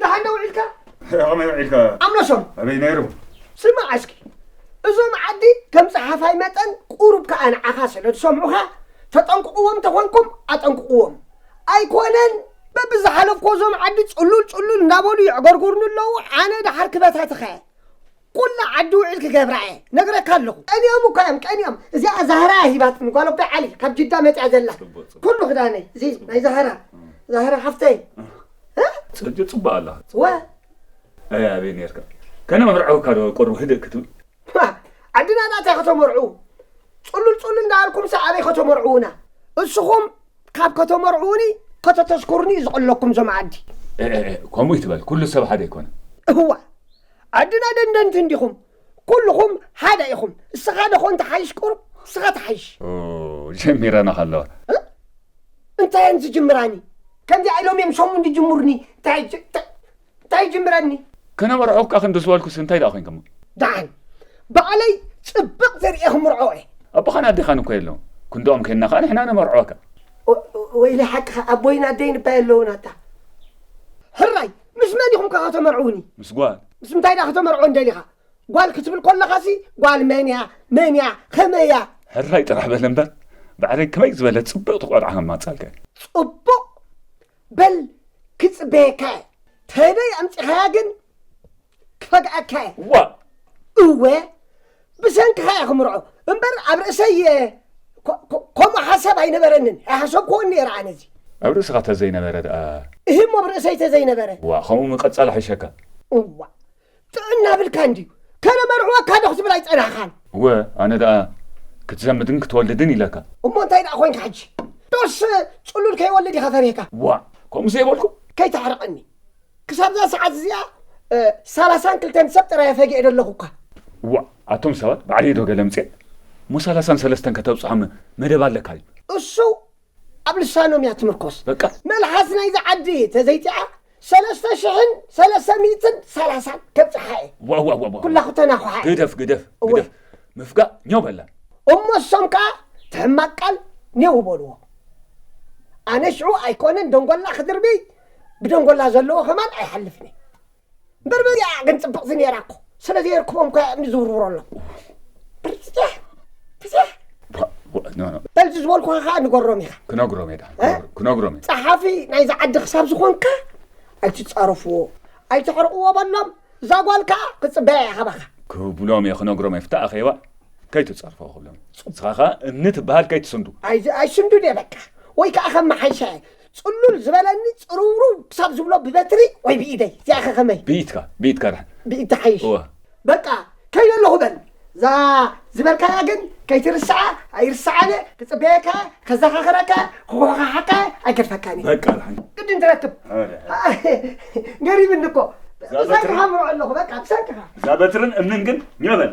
ደሓን ዶ ውዒልካ? ከመይ ውዒልካ? ኣምለሶም ኣበይ ነይሩ? ስማዕ እስኪ እዞም ዓዲ ከም ፀሓፋይ መጠን ቁሩብ ከዓ ንዓኻ ስለ ዝሰምዑኻ ተጠንቅቕዎም ተኾንኩም ኣጠንቅቕዎም ኣይኮነን በብዝሓለፍኮ እዞም ዓዲ ፅሉል ፅሉል እንዳበሉ የዕገርጉርኒ ኣለዉ ኣነ ደሓር ክበታትኸ ኩላ ዓዲ ውዒል ክገብራ እየ ነግረካ ኣለኹ ቀኒኦም እኳ እዮም ቀኒኦም እዚኣ ዛህራ ሂባትኒ ጓል ኣቦይ ዓሊ ካብ ጅዳ መፅያ ዘላ ኩሉ ክዳነይ እዚ ናይ ዛህራ ዛህራ ሓፍተይ ፅርጅ ፅቡቅ ኣላ ወ ኣይ ኣበይ ነርካ ከነ መርዓውካ ዶ ቆርቡ ህድእ ክትብል ዓድና ዳታይ ከተመርዑ ፅሉል ፅሉል እንዳበልኩም ሰ ኣበይ ከተመርዑውና እስኹም ካብ ከተመርዑውኒ ከተተስኩሩኒ ዝቕለኩም ዞም ዓዲ ከምኡ ይትበል ኩሉ ሰብ ሓደ ኣይኮነ እዋ ዓድና ደንደንቲ እንዲኹም ኩልኹም ሓደ ኢኹም እስኻ ደኾን ተሓይሽ ቁሩብ እስኻ ተሓይሽ ጀሚረና ከለዋ እንታይ እየን ዝጅምራኒ ከምዚ ኣይሎም እዮም ሸሙ እንድጅምሩኒ እንታይ ይጅምረኒ ከነበርዖካ ክንዲ ዝበልኩስ እንታይ ደኣ ኮይንከሞ ደሓን ባዕለይ ፅብቕ ዘርእየ ክምርዖ እየ ኣቦኻን ኣዴኻን እኮ የለዉ ክንድኦም ከይና ከዓ ንሕና ነመርዖካ ወይለ ሓቅኻ ኣቦይን ኣደይን እባ የለውን ኣታ ሕራይ ምስ መን ኢኹም ከ ከተመርዕውኒ? ምስ ጓል። ምስ እንታይ ድኣ ከተመርዕወን ደሊኻ? ጓል ክትብል ከለኻሲ ጓል መን እያ መን እያ ከመይ እያ? ሕራይ ጥራሕ በል እምበር ባዕለይ ከመይ ዝበለት ጽብቕቲ ቆልዓ ከማጻልከ። ጽቡቕ በል ክጽበየካ እየ። ተበይ ኣምጺኻያ ግን ክፈግኣካ እየ። ዋእ! እወ ብሰንክኻ እየ ክምርዖ እምበር ኣብ ርእሰይ ከምኡ ሓሳብ ኣይነበረንን ኣይሓሰብክዎን ነይረ ኣነ እዚ ኣብ ርእስኻ ተዘይነበረ ደኣ። እህ እሞ ብ ርእሰይ ተዘይነበረ። ዋእ ከምኡ ምቅጻል ይሕሸካ። እዋእ ጥዕና ኣብልካን ድዩ ከነመርዕወካ ዶ ክትብል ኣይጸናሕካን። እወ ኣነ ደኣ ክትዘምድን ክትወልድን ኢለካ። እሞ እንታይ ደኣ ኮንካ ሕጂ ዶስ ጽሉል ከይወልድ ኢኻ ፈሪህካ። ዋእ ከምኡ ዘይበልኩ። ከይተሕርቐኒ። ክሳብዛ ሰዓት እዚኣ ሰላሳን ክልተን ሰብ ጥራይ ፈጊዐ ደለኹ እኳ። እዋእ ኣቶም ሰባት ባዕለይ ዶ ገለምጼ እሞ ሰላሳን ሰለስተን ከተብጽሖም መደብ ኣለካ እዩ። እሱ ኣብ ልሳኖም እያ ትምርኮስ። በቃ መልሓስ ናይዛ ዓዲ ተዘይጢዓ ሰለስተ ሽሕን ሰለስተ ሚእትን ሰላሳን ከብጽሓ እየ። ዋው ዋው ዋው ዋው። ኩላኹ ተናኹሓ እየ። ግደፍ ግደፍ እወ። ግደፍ ምፍጋእ ኛው በላ እሞ እሶም ከዓ ትሕማቅ ቃል ኔው በልዎ። ኣነ ሽዑ ኣይኮነን ደንጎላ ክድርብይ ብደንጎላ ዘለዎ ከማን ኣይሓልፍን እዩ እምበር በዚኣ ግን ፅብቕቲ ነይራ እኮ ስለዘየርክቦም እኮ እምኒ ዝውርውረሎም በርዚያ በዚያ በልዚ ዝበልኩኻ ከዓ ንገሮም ኢኻ ክነግሮም እየ ክነግሮም እየ ፀሓፊ ናይዚ ዓዲ ክሳብ ዝኾንካ ኣይትፃረፍዎ ኣይተሕርቕዎ በሎም እዛ ጓል ከዓ ክፅበያ እያ ካባኻ ክብሎም እየ ክነግሮም እየ ፍታእ ኣኼባ ከይትፀርፎ ክብሎም ንስኻ ከዓ እምኒ ትበሃል ከይትስንዱ ኣይስንዱን እየ በቃ ወይ ከዓ ከም መሓይሻ ጽሉል ዝበለኒ ጽርውርው ክሳብ ዝብሎ ብበትሪ ወይ ብኢደይ እዚኣ ከ ከመይ ብኢትካ ብኢትካ ድሓን ብኢድ ትሓይሽ እወ በቃ ከይደ ኣለኹ በል እዛ ዝበልካያ ግን ከይትርስዓ ኣይርስዓን እየ ክጽበየካ እየ ከዘኻኽረካ እየ ክኹሓሓካ እየ ኣይገድፈካን እየ በቃ ድሓን ቅድም ትረክብ ገሪብኒ እኮ ብሰንክኻ ምርዖ ኣለኹ በቃ ብሰንክኻ እዛ በትርን እምንን ግን ኘበለ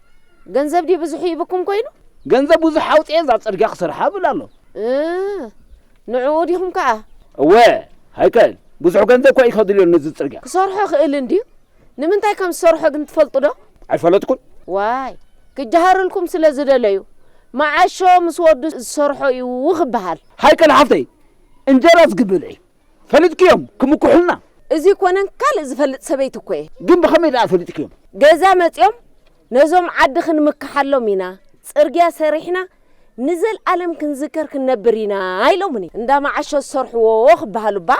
ገንዘብ ድዩ ብዙሕ ሂቡኩም ኮይኑ? ገንዘብ ብዙሕ ኣውጺኤ እዛ ጽርግያ ክሰርሓ እብል ኣሎ። እህ ንዕኡ ዲኹም ከኣ? እወ ሃይከል ብዙሕ ገንዘብ እኳ ኢከድልዮ ነዚ ጽርግያ። ክሰርሖ ይኽእል እንድዩ ንምንታይ ከም ዝሰርሖ ግን ትፈልጡዶ? ኣይፈለጥኩን። ዋይ ክጀሃርልኩም ስለ ዝደለዩ መዓሾ ምስ ወዱ ዝሰርሖ እዩ ክበሃል። ሃይከል ሓፍተይ እንጀራስ ግብር እዩ። ፈሊጥክዮም ክምኩሑልና። እዚ ኮነን ካልእ ዝፈልጥ ሰበይቲ እኮ እየ። ግን ብኸመይ ደኣ ፈሊጥክዮም? ገዛ መጺኦም ነዞም ዓዲ ክንምክሓሎም ኢና፣ ጽርግያ ሰሪሕና ንዘልኣለም ክንዝከር ክንነብር ኢና ኢሎሙኒ። እንዳ መዓሾ ዝሰርሕዎ ክበሃሉ እባ።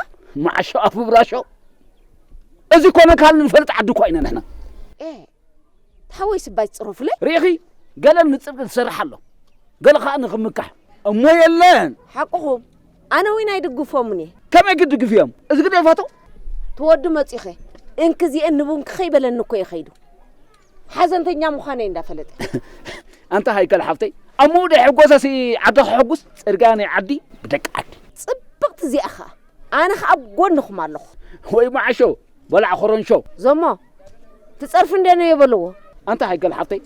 መዓሾ ኣፍ ምብላሾ? እዚ ኮነን ካልእን ንፈልጥ ዓዲ እኳ ኢና ንሕና። ኤህ ሓወይ ስባይ ትጽረፉለይ ርኢኺ ገለ ንጽድቂ ዝሰርሕ ኣሎ ገለ ከኣ ንኽምካሕ እሞ የለን ሓቅኹም ኣነ ዊን ኣይድግፎምን እየ ከመይ ክድግፍዮም እዚ ግደፋቶ ትወዱ መጺኸ እንክዚኤን ንቡንኪ ከይበለኒ እኮ እየ ከይዱ ሓዘንተኛ ምዃነይ እንዳፈለጠ ኣንታ ሃይከል ሓፍተይ ኣብ ምኡ ደይ ሕጎሰሲ ዓዲ ክሕጉስ ጽርግያ ናይ ዓዲ ብደቂ ዓዲ ጽብቕቲ እዚኣ ኸኣ ኣነ ኸኣ ኣብ ጎንኹም ኣለኹ ወይ ማዓሾ በላዕ ኮረንሾ ዘሞ ትጸርፍ እንደ ነዮ በለዎ። ኣንታ ሃይገል ሓብተይ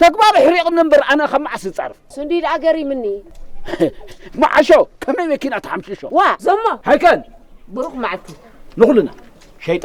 ተግባር ኣሕሪቕኒ እምበር ኣነ ካብ መዓስ ዝጸርፍ ስንዲ ደኣ ገሪምኒ። መዓሾ ከመይ መኪና ተሓምሽሾ ዋ ዘሞ ሃይከል ብሩኽ መዓልቲ ንኹልና ሸይጣ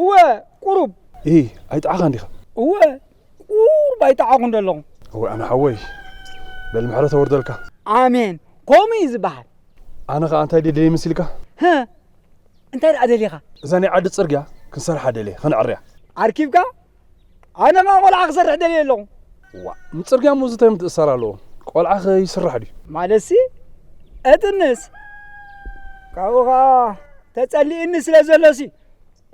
እወ ቁሩብ። እሂ ኣይጠዓኻን ዲኻ? እወ ቁሩብ ኣይጠዓኹን ዶ ኣለኹ። እወ ኣነ ሓወይ በል ምሕረት ኣውርደልካ። ኣሜን ከምኡ እዩ ዝበሃል። ኣነ ኸኣ እንታይ ደልየ መሲልካ? ህ እንታይ ደኣ ደሊኻ? እዛ ናይ ዓዲ ጽርግያ ክንሰርሓ ደልየ ከነዕርያ። ኣርኪብካ? ኣነ ኸኣ ቆልዓ ክሰርሕ ደልየ ኣለኹ። ዋእ ንጽርግያ እሞ እዚ እንታይ ምትእስሳር ኣለዎ ቆልዓ ከ ይስራሕ ድዩ? ማለትሲ እጥንስ ካብኡ ኸኣ ተጸሊእኒ ስለ ዘሎሲ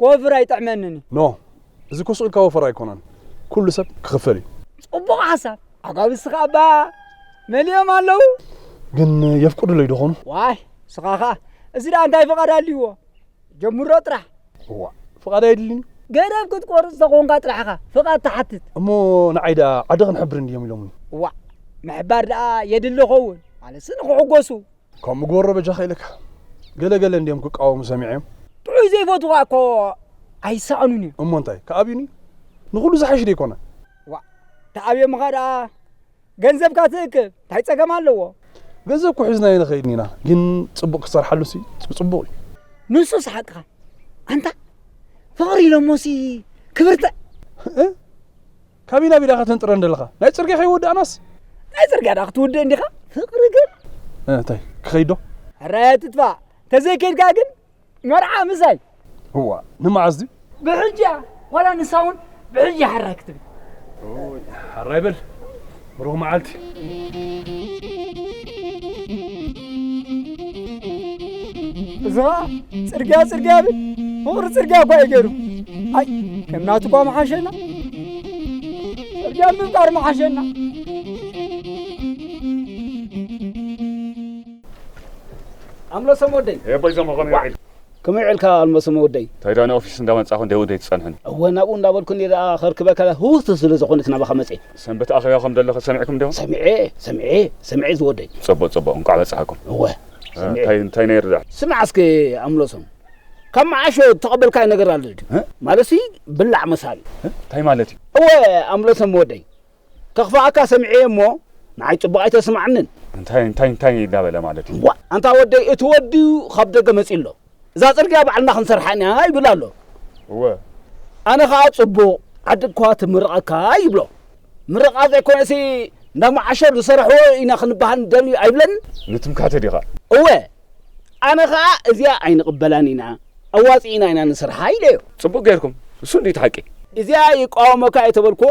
ክወፍር ኣይጥዕመንን እዩ። ኖ እዚ ኮስ ኢልካ ወፈራ ኣይኮነን ኩሉ ሰብ ክኽፈል እዩ። ጽቡቕ ሓሳብ ኣጓብዝቲ ኸኣ እባ መሊኦም ኣለዉ። ግን የፍቅዱለይ ዶ ኾኑ? ዋይ እስኻ ኸኣ እዚ ደኣ እንታይ ፍቓድ ኣልይዎ። ጀምሮ ጥራሕ። እዋእ ፍቓድ ኣየድልን'ዩ? ገደብ ክትቆርጽ ተኾንካ ጥራሕ ኢኻ ፍቓድ ትሓትት። እሞ ንዓይ ደኣ ዓዲ ክንሕብር እንድዮም ኢሎሙኒ። እዋእ ምሕባር ደኣ የድሊ ይኸውን ማለትሲ ንኽሕጎሱ። ከምኡ ግበሮ በጃኻ ኢለካ። ገለ ገለ እንድዮም ክቃወሙ ሰሚዐዮም። ጥዑይ ዘይፈትዉኻ እኮ ኣይሰኣኑን እዮም። እሞ እንታይ ክኣብዩኒ? ንኹሉ ዝሓይሽ ደይኮነ? እዋእ ተኣብዮምኻ ደኣ ገንዘብካ ትእክብ ታይ ጸገም ኣለዎ። ገንዘብ እኮ ሒዝናዮ ንኸይድ ኢና ግን ጽቡቅ ክትሰርሓሉ ሲ ጽቡቅ እዩ። ንሱስ ሓቅኻ ኣንታ ፍቅሪ ኢሎሞሲ ክብርተ። እህ ካበይ ናበይ ዳኻ ተንጥረን ደለኻ ናይ ጽርግያ ከይወዳእናስ። ናይ ጽርግያ ዳኣ ክትውድእ እንዲኻ ፍቅሪ ግን። እህ ታይ ክኸይድ ዶ። ኧረ ትጥፋእ ተዘይከይድካ ግን መርዓ ምዛይ እዋ ንመዓዝ ድዩ ብሕጂ እያ ዋላ ንሳ እውን ብሕጂ እያ ሓራይ ክትብል ሓራይ በል ብሩኽ መዓልቲ እዚ ኸዓ ፅርግያ ፅርግያ ብል ፍቕሪ ፅርግያ እኳ እዩ ገይሩ ኣይ ከም ናቱ እኳ መሓሸና ፅርግያ ምፍጣር መሓሸና ኣምለሶም ወደይ። ኤህ ኣቦይ ዞም ኸመይ ውዒልካ? ከመይ ውዒልካ ኣልመሶም ወደይ? እንታይ ደኣ ንኦፊስ እንዳ መጻኹ እንተ ወደይ ትጸንሑኒ? እወ ናብኡ እንዳ በልኩ እንዲየ ደኣ ከርክበካ ህውትውት ስለ ዝኾነት ናባኻ መጼ። ሰንበት ኣኼባ ከም ደሎ ሰሚዕኩም ዲኹም? ሰሚዔ ሰሚዔ ሰሚዔ ዝወደይ። ጽቡቕ ጽቡቕ እንቋዕ በጻሓኩም። እወ ሰሚዔ። እንታይ እንታይ ነይሩ ደኣ? ስማዕ እስከ ኣምለሶም ካብ መዓሾ እተቐበልካዮ ነገር ኣሎ ድዩ? ማለት ሲ ብላዕ መሳሊ። እንታይ ማለት እዩ? እወ ኣምለሶም ወደይ ከኽፍኣካ ሰሚዐ'የ እሞ ንዓይ ጽቡቕ ኣይተስምዓንን። እንታይ እንታይ እንታይ እንዳበለ ማለት እዩ? ዋእ ኣንታ ወደይ እቲ ወዲ ካብ ደገ መጺኡ ኣሎ። እዛ ጽርግያ ባዕልና ክንሰርሓ ኢና ይብል ኣሎ። እወ። ኣነ ከኣ ጽቡቕ ዓድ'ኳ ትምርቐካ ይብሎ። ምርቓ ዘይኮነሲ እንዳ መዓሸር ዝሰራሕዎ ኢና ክንበሃል ንደሊ ኣይብለንን። ንትምካተ ዲኻ? እወ። ኣነ ከኣ እዚኣ ኣይንቕበላን ኢና ኣዋጺእና ኢና ንስርሓ ኢለዮ። ጽቡቕ ጌርኩም። እሱ እንድዩ እቲ ሓቂ። እዚኣ ይቃወመካ እየ ተበልኩዎ።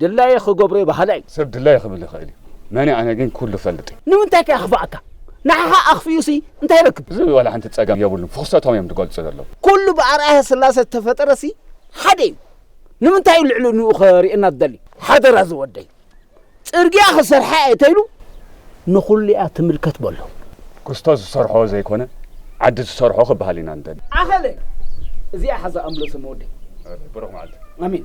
ድላየይ ኽገብር'የ በሃላይ እዩ። ሰብ ድላዩ ኽብል ይኽእል እዩ፣ መን'የ ኣነ ግን ኵሉ እፈልጥ እየ። ንምንታይ ከ የኽፍኣካ? ንዓኻ ኣኽፊኡሲ እንታይ ይረክብ? እዚ ዋላ ሓንቲ ጸገም የብሉን፣ ፍዅሰቶም እዮም ዝገልጹ ዘለዉ። ኵሉ ብኣርኣያ ስላሰ ዝተፈጠረሲ ሓደ እዩ፣ ንምንታይ እዩ ልዕሊ ንኡ ኸርእየና ዝደሊ? ሓደራ ዝወደይ፣ ጽርግያ ኽሰርሓ እየ ተይሉ ንዅሉ እያ ትምልከት በሎ። ክስቶስ ዝሰርሖ ዘይኮነ ዓዲ ትሰርሖ ክበሃል ኢና ንደሊ። ኣኸለ እዚኣ ሓዛ ኣምለሶም ወደይ። ብሩኽ መዓልቲ። ኣሜን።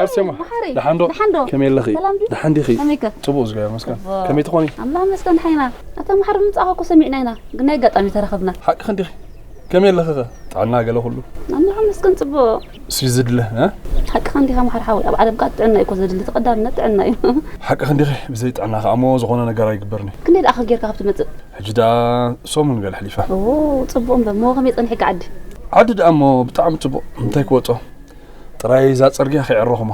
ኣርሴማ ደሓን ዶ ከመይ ኣለኺ ደሓን ዲኺ ፅቡቕ እግዚኣብሔር ይመስገን ከመይ ትኾኒ ኣምላኽ ይመስገን ደሓን ኢና ኣታ መሓሪ ምምፃእኻ እኮ ሰሚዕና ኢና ግን ናይ ኣጋጣሚ ተረኸብና ሓቅኽን ዲኺ ከመይ ኣለኺ ኸ ጥዕና ገለ ኩሉ ኣምላኽ ይመስገን ፅቡቕ እሱ ዝድለ ሓቅኽን ዲኻ መሓሪ ሓወይ ኣብ ዓለም ከዓ ጥዕና እዩ እኮ ዘድሊ እቲ ቀዳምነት ጥዕና እዩ ሓቅኽን ዲኺ ብዘይ ጥዕና ከዓ እሞ ዝኾነ ነገር ኣይግበርን እዩ ክንደይ ደኣ ጌርካ ካብ ትመፅእ ሕጂ ደኣ ሰሙን ገለ ሕሊፋ ኦ ጽቡቕ እምበር እሞ ከመይ ጸኒሕኪ ዓዲ ዓዲ ደኣ እሞ ብጣዕሚ ጽቡቕ እንታይ ክወጾ ጥራይ እዛ ጽርግያ ከይዕረኹማ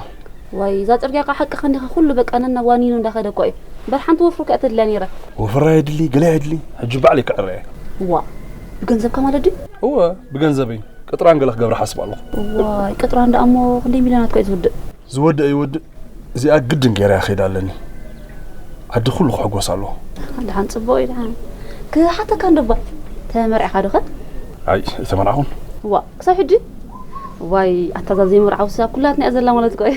ዋይ እዛ ጽርግያ ቃ ሓቂ ከንዲኻ ኩሉ በቃ ነናብ ዋኒኑ እንዳኸደ እኮ እዩ እምበር ሓንቲ ወፍሪ ከኣ ተድልያ ነይራ ወፍራ የድሊ ገለ የድሊ ሕጂ ባዕለይ ክዕረ እየ እዋ ብገንዘብካ ማለት ድዩ እወ ብገንዘበይ ቅጥራን ገለ ክገብራ ሓስብ ኣለኹ ዋይ ቅጥራን ደኣ እሞ ክንደይ ሚልዮናት ኮ እዩ ዝውድእ ዝወድእ ይወድእ እዚኣ ግድን ገይረ ክይድ ኣለኒ ዓዲ ኩሉ ክሕጎስ ኣለዎ ድሓን ፅቡቅ እዩ ድሓን ክሓተካ እንዶባ ተመርዕካ ዶ ከ ኣይ ኣይተመርዓኹን ዋ ክሳብ ሕጂ ዋይ ኣታ ዘይምርዓው ሰብ ኩላትና እያ ዘላ ማለት ቆይ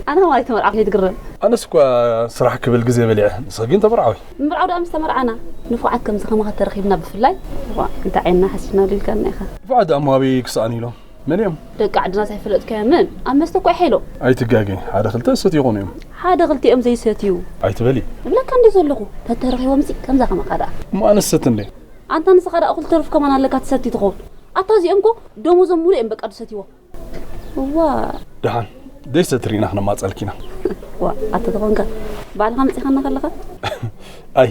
ኣነ ከማን ኣይተመርዓኹ ከይትግረም ኣነስ እኳ ስራሕ ክብል ግዜ በሊዐ ንስኺ ግን ተመርዓዊ ምርዓው ደኣ ምስ ተመርዓና ንፉዓት ከምዚ ከማኻ ተረኺብና ብፍላይ እንታይ ዓይንና ሓሲብና ልልካና ኢኻ ንፉዓት ደኣ እሞ ኣበይ ክሰኣኑ ኢሎም መን እዮም? ደቂ ዓድና ዘይፈለጥካዮምን ኣብ መስተ እኮ ኣይሓይሎም። ኣይትጋገይ ሓደ ክልተ ዝሰትዮኹን እዮም። ሓደ ክልቲኦም ዘይሰትዩ። ኣይትበሊ። እብለካ እንድየ ዘለኹ ተተረኺቦምሲ ከምዛ ከማኻ ደኣ። እሞ ኣነስ ዝሰቲ እንድየ። ኣንታ ንስኻ ደኣ እኹል ተርፍ ከማን ኣለካ ትሰቲ ትኸውን። ኣታ እዚኦም እኮ ደሞዞም ሙሉእ እዮም በቃ ድሰትይዎ። እዋእ። ደሓን ዘይሰቲ ሪእና ክነማጸልኪ ኢና። እዋእ ኣታ ተኾንካ ባዕልኻ መጺኻና ከለኻ። ኣይ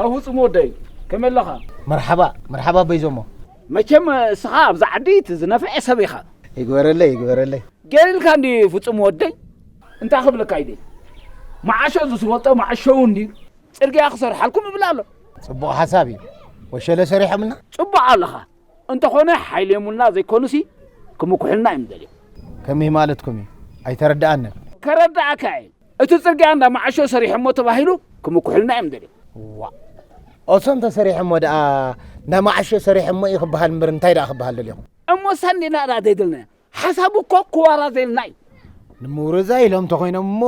ኣብ ህፁም ወደይ ከመይ ኣለኻ መርሓባ መርሓባ በይዞሞ መቸም እስኻ ኣብዛ ዓዲ እቲ ዝነፍዐ ሰብ ኢኻ ይግበረለይ ይግበረለይ ገሊልካ እንዲ ፍፁም ወደይ እንታይ ክብለካ ኢደ መዓሾ ዝስወጦ መዓሸው እንዲ ፅርግያ ክሰርሓልኩም ይብል ኣሎ ፅቡቕ ሓሳብ እዩ ወሸለ ሰሪሖምና ፅቡቕ ኣለኻ እንተኾነ ሓይሊ የሙና ዘይኮኑሲ ክምኩሑልና እዮም ደልዮም። ከመይ ማለትኩም እዩ ኣይተረደኣንን። ከረደኣካ እየ እቲ ጽርግያ እንዳ መዓሾ ሰሪሖሞ ተባሂሉ ክምኩሑልና እዮም ደልዮም። ዋእ ኦሶ እንተሰሪሖሞ ደኣ እንዳ መዓሾ ሰሪሖሞ እዩ ክበሃል እምበር እንታይ ደኣ ክበሃል ደልዮም። እሞ ሰንዲና ደኣ ዘይደልናዮ ሓሳቡ እኮ ክዋራዘየልና እዩ። ንምውርዛይ ኢሎም እንተኾይኖም እሞ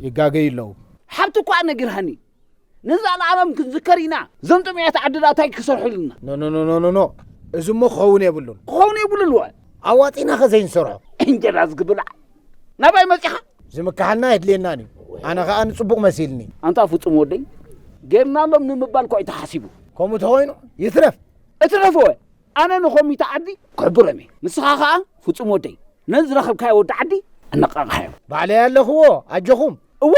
ይጋገዩ ኣለዉ። ሓብቲ እኳ ነጊርሃኒ ንዘልኣለም ክንዝከር ኢና። እዞም ጥምያት ዓድና እንታይ ክሰርሑልና? ኖኖኖኖኖ እዚ እሞ ክኸውን የብሉን። ክኸውን የብሉን ወ ኣዋጺና ከ ዘይንሰርሖ እንጀራ ዝግብላዕ ናባይ መጺኻ? ዝምክሓልና ኣይድልየናን እዩ። ኣነ ከኣ ንጽቡቕ መሲልኒ። ኣንታ ፍጹም ወደይ ጌርናሎም ንምባል እኳ እዩ ተሓሲቡ። ከምኡ ተኾይኑ ይትረፍ። እትረፍ ወ ኣነ ንኮሚተ ዓዲ ክሕብሮም እየ ንስኻ ከኣ ፍጹም ወደይ ነዚ ዝረኸብካዮ ወዲ ዓዲ ኣነቃቅሓዮ። ባዕለይ ኣለኽዎ ኣጆኹም። እወ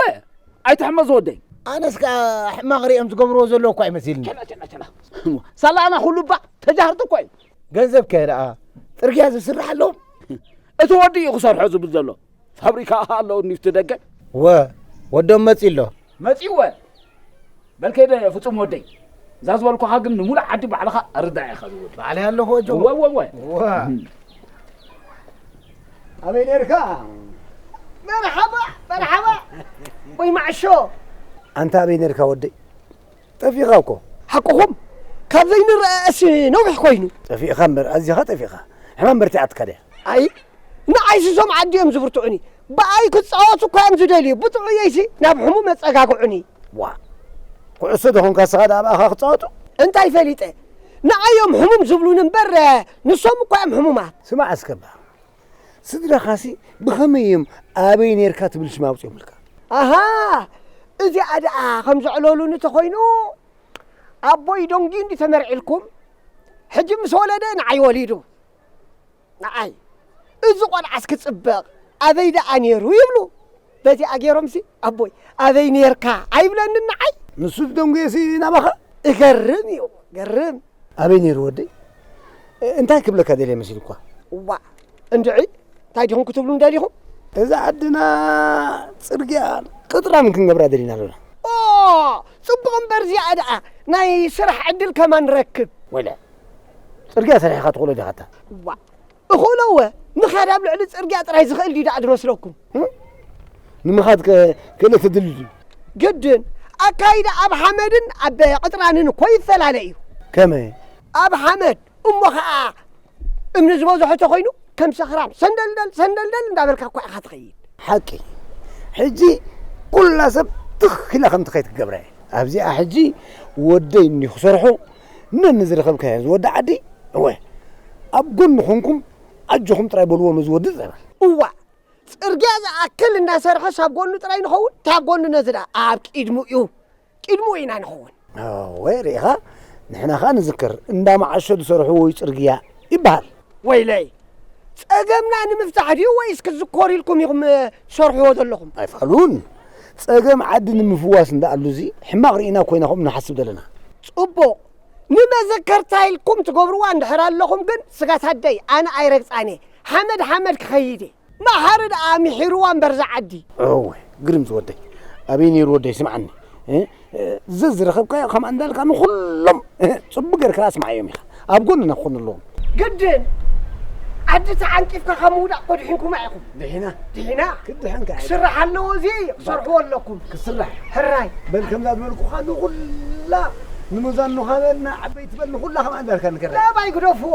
ኣይትሕመዝ ወደይ። ኣነስ ከኣ ሕማቅ ሪኦም ዝገብርዎ ዘለዉ እኳ ይመስልኒ። ቸላ ቸላ ቸላ ሳላ ኣና ኩሉ እባ ተጃህርቲ እኮ እዩ። ገንዘብ ከ ደኣ ጽርግያ ዝስርሓሎም። እቲ ወዲ እዩ ክሰርሖ ዝብል ዘሎ። ፋብሪካ ኣሃ ኣለዉ ኒፍቲ ደገ ወ ወዶም መጺ ኣሎ መጺኡ ወ በል ከይደ ፍጹም ወደይ እዛ ዝበልኩኻ ግን ንሙሉእ ዓዲ ባዕልኻ ኣርዳእ ኢኻ ዝወድ ባዕለይ ኣለኹ ወጆ ወ ወ ወ ኣበይ ነርካ መርሓባ መርሓባ ወይ ማዕሾ ኣንታ ኣበይ ነርካ ወደይ ጠፊእኻ እኮ። ሓቅኹም ካብ ዘይንረኣኣስ ነዊሕ ኮይኑ። ጠፊእኻ እምበር ኣዚኻ ጠፊእኻ። ሕማም በርቲዓትካ ድያ? ኣይ ንዓይሲ እዞም ዓዲ እዮም ዝብርትዑኒ። ብኣይ ክጻወቱ እኳ እዮም ዝደልዩ። ብጥዑየይሲ ናብ ሕሙም የጸጋግዑኒ። ዋእ ኩዕሶ ዶ ኾንካ እስኻ ድኣ ብኣኻ ክጻወቱ? እንታይ ፈሊጠ ንዓይ እዮም ሕሙም ዝብሉኒ እምበር ንሶም እኳ እዮም ሕሙማት። ስማዕ እስከ እባ ስድራኻሲ ብኸመይ እዮም ኣበይ ነርካ ትብል ሽም ኣውፅኦምልካ? ኣሃ እዚኣ ደኣ ከም ዘዕለሉኒ ተኾይኑ ኣቦይ ዶንጊ እንዲ ተመርዒልኩም ሕጂ ምስ ወለደ ንዓይ ወሊዱ ንዓይ እዚ ቆልዓስ ክፅበቕ ኣበይ ደኣ ነይሩ ይብሉ። በዚኣ ገይሮምሲ ኣቦይ ኣበይ ኔርካ ኣይብለንን ንዓይ። ንሱ ዝደንጉየሲ ናባኻ እገርም እዩ ገርም። ኣበይ ነይሩ ወደይ እንታይ ክብለካ ደልየ መሲሉኳ። እዋእ እንድዒ እንታይ ዲኹም ክትብሉኒ ደሊኹም። እዛ ዓድና ጽርግያ ቅጥራን ክንገብራ ደሊና ኣሎና። ኦኦ ጽቡቕ እምበር እዚኣ ደኣ ናይ ስራሕ ዕድል ከማን ንረክብ። ወለ ጽርግያ ሰሪሕኻ ትኽእሎ ዲኻታ። እዋእ እኽእሎ እወ ምኽያድ ኣብ ልዕሊ ጽርግያ ጥራይ ዝኽእል ድዩ ደኣ ድረስረኩም ንምኻድ ክእለት ተድልዩ ድዩ ግድን ኣካይዳ ኣብ ሓመድን ኣብ ቅጥራንን እኮ ይፈላለ እዩ ከመይ ኣብ ሓመድ እሞ ኸኣ እምኒ ዝበዝሖ ተኾይኑ ከም ሰኽራም ሰንደልደል ሰንደልደል እንዳበልካ እኳ ኢኻ ትኸይድ ሓቂ ሕጂ ኩላ ሰብ ትኽ ኢላ ከም ትኸይድ ክገብራ እየ ኣብዚኣ ሕጂ ወደይ እኒ ክሰርሑ ነኒ ዝረኸብካዮ ዝወዲ ዓዲ እወ ኣብ ጎኑ ኾንኩም ኣጆኹም ጥራይ በልዎ ነዚ ወዲ ጸበል። እዋእ ጽርግያ ዝኣክል እንዳሰርሐስ ኣብ ጎኑ ጥራይ ንኸውን ታይ ኣብ ጎኑ ነዚ ድኣ ኣብ ቂድሙ እዩ ቂድሙ ኢና ንኸውን። እወ ሪኢኻ ንሕና ኸኣ ንዝክር እንዳመዓሾ ዝሰርሕዎ እዩ ጽርግያ ይበሃል። ወይለይ ጸገምና ንምፍታሕ ድዩ ወይስ ክትዝኮሩ ኢልኩም ኢኹም ትሰርሕዎ ዘለኹም? ኣይፋሉን ጸገም ዓዲ ንምፍዋስ እንዳኣሉ እዚ ሕማቕ ርኢና ኮይና ከምኡ ንሓስብ ዘለና። ጽቡቕ ንመዘከርታ ኢልኩም ትገብርዋ እንድሕር ኣለኹም ግን ስጋት ኣደይ ኣነ ኣይረግጻን እየ ሓመድ ሓመድ ክኸይድ እየ። ማሓሪ ደኣ ሚሒርዋ እምበር እዛ ዓዲ። እወ ግርም ዝወደይ ኣበይ ነይሩ ወደይ ስምዓኒ ዘዝረኸብካዮ ከምኣ እንዳልካ ንኹሎም ፅቡቅ ገርካ ኣስምዓዮም ኢኻ ኣብ ጎንና ክኾኑ ኣለዎም ግድን ዓዲ ተዓንቂፍካ ካብ ምውዳቕ እኮ ድሒንኩማ ኢኹም ድሒና ድሒና ክድሕን ከ ክስራሕ ኣለዎ እዚ ክሰርሕዎ ኣለኩም ክስራሕ ሕራይ በል ከምዛ ዝበልኩኻ ንኹላ ንመዛኑ ካበልና ዓበይቲ በል ንኹላ ከምኣ እንዳልካ ንገራ ለባይ ግደፍዎ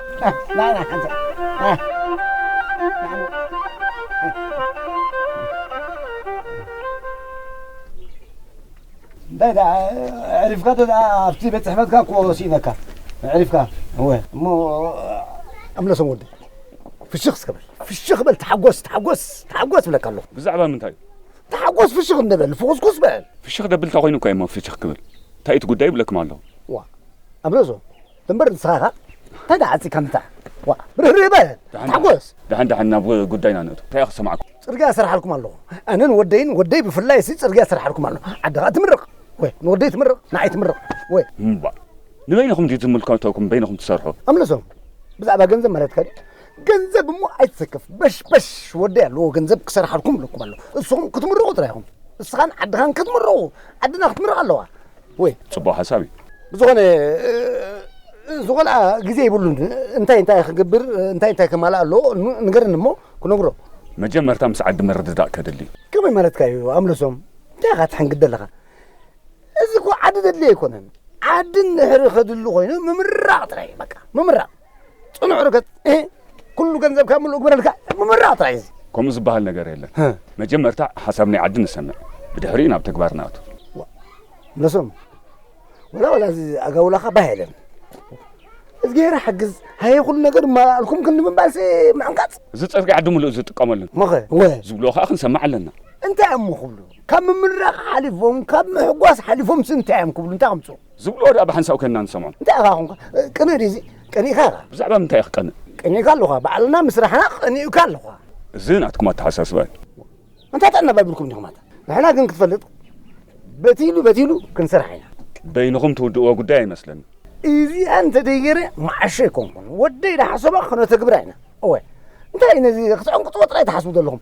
እንታይ ደኣ ዕሪፍካ እንተ ኣብቲ ቤት ፅሕፈትካ እኮ ስኢነካ ዕሪፍካ እወ እሞ እምለሶም ወዲ ፍሽኽ እስከ በል ፍሽኽ በል ተሓጎስ ተሓጎስ ተሓጎስ ብለካ ኣለኹ ብዛዕባ ምንታይ ተሓጎስ ፍሽኽ እንበል ፍኹስኩስ በል ፍሽኽ ደብል እንታይ ኮይኑ እኳ እሞ ፍሽኽ ክብል እንታይ እቲ ጉዳይ ይብለኩም ኣለኹ ዋ እምለሶም እምበር ንስኻ ኸኣ እንታይ ደኣ ዓጺካ ምታሕ ዋእ ብርህርህ በል ደሓን ደሓን ተሓጎስ ደሓን ደሓን ናብ ጉዳይና ንእቱ እንታይ እየ ክሰማዕኩም ጽርግያ እሰርሓልኩም ኣለኹ ኣነን ወደይን ወደይ ብፍላይ ሲ ጽርግያ እሰርሓልኩም ኣለኹ ዓዲ ኸኣ ትምርቕ ወይ ንወደይ ትምርቕ ንዓይ ትምርቕ ወይ እምባ ንበይንኹም ድዩ ዝምልከተኩም በይንኹም ትሰርሑ ኣምልሶም ብዛዕባ ገንዘብ ማለትካ ድዩ ገንዘብ እሞ ኣይትሰከፍ በሽበሽ ወደይ ኣለዎ ገንዘብ ክሰርሓልኩም ኣለኩም ኣለኹ እሱኹም ክትምርቑ ጥራይ ኢኹም እስኻን ዓድኻን ክትምርቑ ዓድና ክትምርቕ ኣለዋ ወይ ጽቡቅ ሓሳብ እዩ። ብዝኾነ እሱ ቆልዓ ግዜ ይብሉን እንታይ እንታይ ክገብር እንታይ እንታይ ከማልእ ኣለዎ ንገረኒ እሞ ክነግሮ። መጀመርታ ምስ ዓዲ ምርድዳእ ከድሊ እዩ። ከመይ ማለትካ እዩ ኣምለሶም እንታይ ኢኻ ትሕንግድ ዘለኻ እዚ እኮ ዓዲ ዘድልዮ ኣይኮነን ዓዲ እንድሕሪ ከድሊ ኮይኑ ምምራቕ ጥራይ እዩ በቃ ምምራቕ ጽኑዕ ርገጽ ኩሉ ገንዘብካ ምሉእ ግበረልካ ምምራቕ ጥራይ እዚ ከምኡ ዝበሃል ነገር የለን መጀመርታ ሓሳብ ናይ ዓዲ ንሰምዕ ብድሕሪኡ ናብ ተግባር ንኣቱ ነሶም ወላ ወላ እዚ ኣጋውላኻ ባህ የለን እዝጌራ ሓግዝ ሃየ ኩሉ ነገር ማልኩም ክንዲ ምባልሲ ምዕንቃፅ እዚ ፀርጊ ዓዲ ምሉእ ዝጥቀመሉን መኸ ወ ዝብልዎ ከዓ ክንሰማዕ ኣለና እንታይ እሞ ክብሉ ካብ ምምራቕ ሓሊፎም ካብ ምሕጓስ ሓሊፎም ሲ እንታይ እዮም ክብሉ እንታይ ከምፅኡ ዝብልዎ ድኣ ብሓንሳብ ከንና ንሰምዖ። እንታይ ኢኻ ኮንካ ቅኑዕ ድዩ እዚ ቀኒእካ ኢኻ። ብዛዕባ ምንታይ ኢየ ክቀንእ። ቀኒእካ ኣሎኻ ባዕልና ምስራሕና ቀኒኡካ ኣሎኻ። እዚ ናትኩም ኣተሓሳስባ እዩ። ኣንታይ ጥዕና ባይብልኩም ዲኹም ኣንታ። ንሕና ግን ክትፈልጥ በቲሉ በቲሉ ክንሰርሕ ኢና። በይንኹም ትውድእዎ ጉዳይ ኣይመስለንን። እዚኣ እንተደይገረ መዓሾ ኣይኮንኩን ወደይ ድሓሰቦ ክነተግብራ ኢና እወ እንታይ እዩ ነዚ ክትዕንቅጽዎ ጥራይ ትሓስቡ ዘለኹም።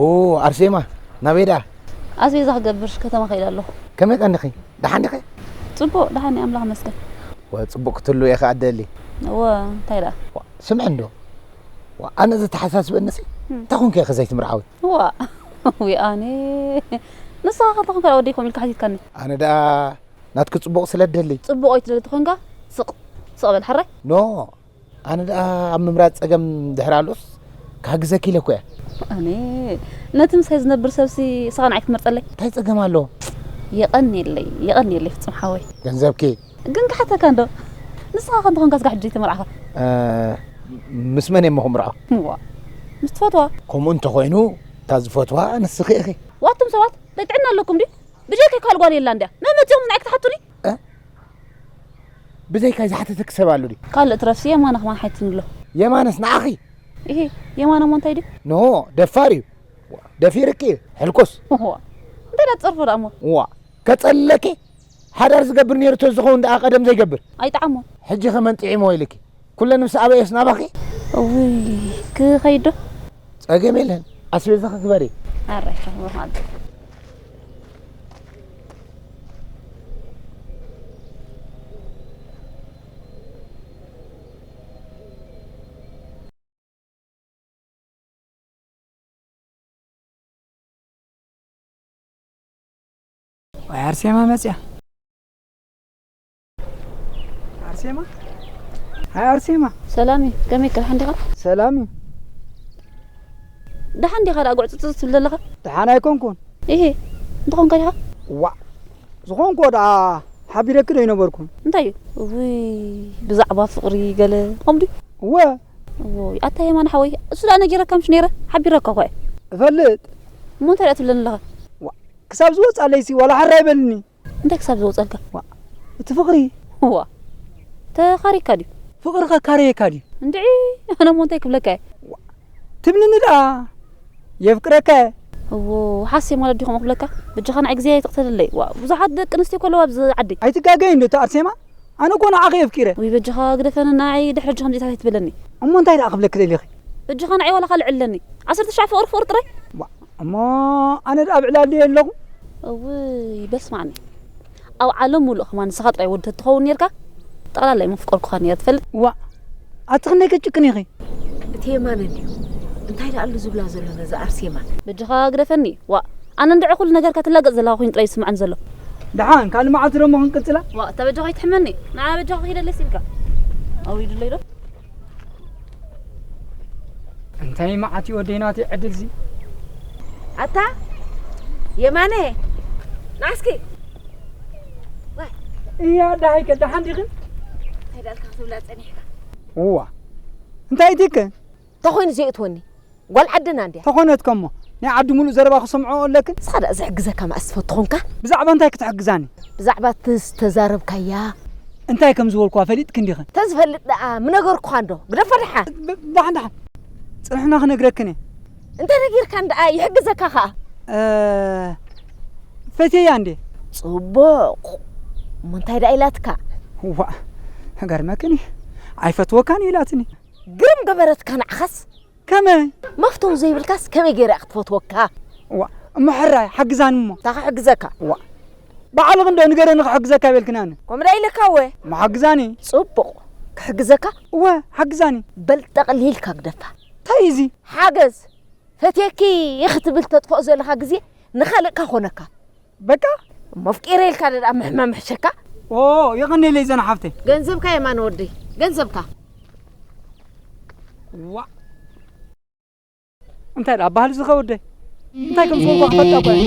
ኦ ኣርሴማ ናበይ ደኣ? ኣስቤዛ ክገብር ከተማ ከይደ ኣለኹ። ከመይ ቀኒኺ? ደሓን ዲኺ? ጽቡቕ ደሓን እየ ኣምላኽ ይመስገን። ዋእ ጽቡቕ ክትህልዊ እየ ከኣ እደሊ። እወ እንታይ ደኣ? ዋእ ስምዒ እንዶ ዋእ ኣነ ዘተሓሳስበኒሲ እንታይ ኮንኪ ኢኺ ዘይትምርዓዊ? ዋእ ውይ ኣነ ንስኻ ከ እንተኾንካ ደኣ ወደይ ከምኡ ኢልካ ሓቲትካኒ። ኣነ ደኣ ናትኪ ጽቡቕ ስለ እደሊ። ጽቡቕ ኣይትደሊ ተኾንካ ስቕ ስቕ በል ሕራይ። ኖእ ኣነ ደኣ ኣብ ምምራጽ ጸገም ድሕሪ ኣሎስ ክሓግዘኪ ኢለኮ እየ። ኣነ ነቲ ምሳይ ዝነብር ሰብሲ እስኻ ንዓይ ክትመርጸለይ? እንታይ ጸገም ኣሎ? የቐንየለይ የቐንየለይ ፍጹም ሓወይ። ገንዘብኪ? ግን ክሓተካ እንዶ ንስኻ ከ እንተኾንካ ስጋዕ ሕጂ ዘይተመርዓኻ? ምስ መን እየ እሞ ክምርዖ? እዋእ ምስ ትፈትዋ። ከምኡ እንተኾይኑ እታ ዝፈትዋ ንስኺ ኢኺ። ዋእ ኣቱም ሰባት እንታይ ጥዕና ኣለኩም ድዩ? ብጀካይ ካልእ ጓል የላን ድያ? መን መጺኹም ንዓይ ክትሓቱኒ? ብዘይካይ ዝሓተተኪ ሰብ ኣሎ ድዩ? ካልእ ትረፍሲ የማነ ከማን ሓቲትኒ ኣሎ። የማነስ ንዓኺ? እሂ የማነ እሞ እንታይ ድዩ? ኖሆ ደፋር እዩ። ደፊርኪ እዩ። ሕልኩስ። ዋእ እንታይ ድኣ ትጸርፎ ድኣ እሞ? ዋእ ከጸልለኪ? ሓዳር ዝገብር ነይሩ ተዝኸውን ድኣ ቀደም ዘይገብር? ኣይጥዓሞን። ሕጂኸ መን ጥዒምዎ ኢልኪ? ኩለን ምስ ኣበየስ ናባኺ እውይ ክኸይድ ዶ ጸገም የለን ኣስቤዛኺ ግበሪ ኣራይ ከምኡ ኣሎ ወይ ኣርሴማ መፅያ ኣርሴማ ሃይ ኣርሴማ ሰላም እዩ ከመይ ከ ሓንዲኻ ሰላም እዩ ደሓን ዲኻ ደኣ ጉዕፅፅ ትብል ዘለኻ ደሓን ኣይኮንኩን ይሄ እንትኾንካ ዲኻ ዋዕ ዝኾንኮ ደኣ ሓቢረኪ ዶ ይነበርኩን እንታይ እዩ እውይ ብዛዕባ ፍቕሪ ገለ ኦም ድዩ እወ እዎይ ኣታ የማን ሓወይ እሱ ደኣ ነጊረካ ምሽ ነይረ ሓቢረካ እኳ እየ እፈልጥ እሞ እንታይ ደኣ ትብለኒ ኣለኻ ክሳብ ዝወፅኣለይሲ ዋላ ሓራ ይበልኒ እንታይ ክሳብ ዝወጸልካ። ዋእ እቲ ፍቅሪ። ዋእ ተኻሪካ ድዩ። ፍቅሪ ከካርየካ ድዩ። እንድዒ ኣነ እሞ እንታይ ክብለካ እየ። ዋእ ትብልኒ ድኣ የፍቅረካ እየ። እዎ ሓሴ ማለት ድዩ ከምኡ ክብለካ። በጃኻ ንዓይ ግዜ ኣይተቅተለለይ ዋእ ብዙሓት ደቂ ኣንስትዮ እኮ ኣለዋ ኣብዚ ዓዲ። ኣይትጋገይ እንዶ እታ ኣርሴማ ኣነ እኮ ንዓኺ የፍቂረ። ውይ በጃኻ ግደፈኒ ንዓይ ድሕሪ ሕጂ ከምዚኢታት ኣይትበለኒ። እሞ እንታይ ድኣ ክብለኪ ደሊኺ። በጃኻ ንዓይ ዋላ ካልእ ዕለለኒ። ዓሰርተ ትሽዓተ ፍቅሪ ፍቅሪ ጥራይ። ዋእ። እሞ ኣነ ደኣ ኣብ ዕላል ድየ ኣለኹ? እውይ በል ስማዓኒ ኣብ ዓለም ሙሉእ ከማን ንስኻ ጥራይ ወዲ ተትኸውን ኔርካ ጠቕላላይ መፍቀርኩኻ ኔረ ትፈልጥ። ዋእ ኣቲ ክንደይ ከጭክን ኢኺ። እቲ የማነ እንድዩ እንታይ ደኣ ኣሉ ዝብላ ዘሎ ነዛ ኣርሴማ። በጃኻ ግደፈኒ ዋእ ኣነ እንድዒ ኩሉ ነገርካ ትላገጽ ዘለኻ ኮይኑ ጥራይ እዩ ዝስምዓኒ ዘሎ። ደሓን ካልእ መዓልቲ ደሞ ክንቅጽላ። ዋእ እታ በጃኻ ኣይትሕመኒ ንዓኣ በጃኻ ኪደለይ ሲኢልካ ኣውሪዱለይ ዶ። እንታይ መዓት እዩ ወደይ ናተይ ዕድልዚ ኣታ የማነ ናስኪ እያ ዳሃይከ ደሓን ዲኽን ኣይዳልካ ክትብላ ጸኒሕካ እዋ እንታይ እቲከ እንተኾይኑ ዘይእትወኒ ጓል ዓድና እንድያ። ተኾነት ከሞ ናይ ዓዲ ሙሉእ ዘረባ ክሰምዖ ኣለክን። እስኻ ደኣ ዝሕግዘካ መኣስ ትፈቱ ኮንካ? ብዛዕባ እንታይ ክትሕግዛኒ? ብዛዕባ እቲ ዝተዛረብካያ። እንታይ ከም ዝበልኩዋ ፈሊጥክን ዲኽን? እንተዝፈልጥ ደኣ ምነገርኩኻን ዶ? ግደፎ ደሓን። ደሓን ደሓን ጽንሕና ክነግረክን እየ። እንተነጊርካን ደኣ ይሕግዘካ ከኣ። ፈትየያ እንድየ። ጽቡቕ እሞ እንታይ ደኣ ኢላትካ? ዋእ ክገርመክን እዩ ኣይፈትወካን እዩ ኢላትኒ። ግርም ገበረትካ ንዓኻስ ከመይ መፍተው ዘይብልካስ ከመይ ገይረ እያ ክትፈትወካ እዋ እሞ ሕራይ ሓግዛኒ እሞ እንታይ ክሕግዘካ እዋ ባዕልኺ እንዶ ንገረኒ ክሕግዘካ በልክኒ ኣነ ከምኡ ዶ ኢለካ እወ እሞ ሓግዛኒ ጽቡቕ ክሕግዘካ እወ ሓግዛኒ በል ጠቕሊልካ ግደፋ እንታይ እዩ እዚ ሓገዝ ፈትየኪ እየ ክትብል ተጥፍኦ ዘለኻ ግዜ ንኻልእ ካኾነካ በቃ መፍቂረ ኢልካ ደኣ ምሕመ ምሕሸካ ኦ የቐኔለይ ዘና ሓፍተይ ገንዘብካ የማነ ወደይ ገንዘብካ ዋ እንታይ ደኣ ባህል ዝኸ ወደይ እንታይ ከም ዝኾንኳ ክፈልጣ እኳ እየ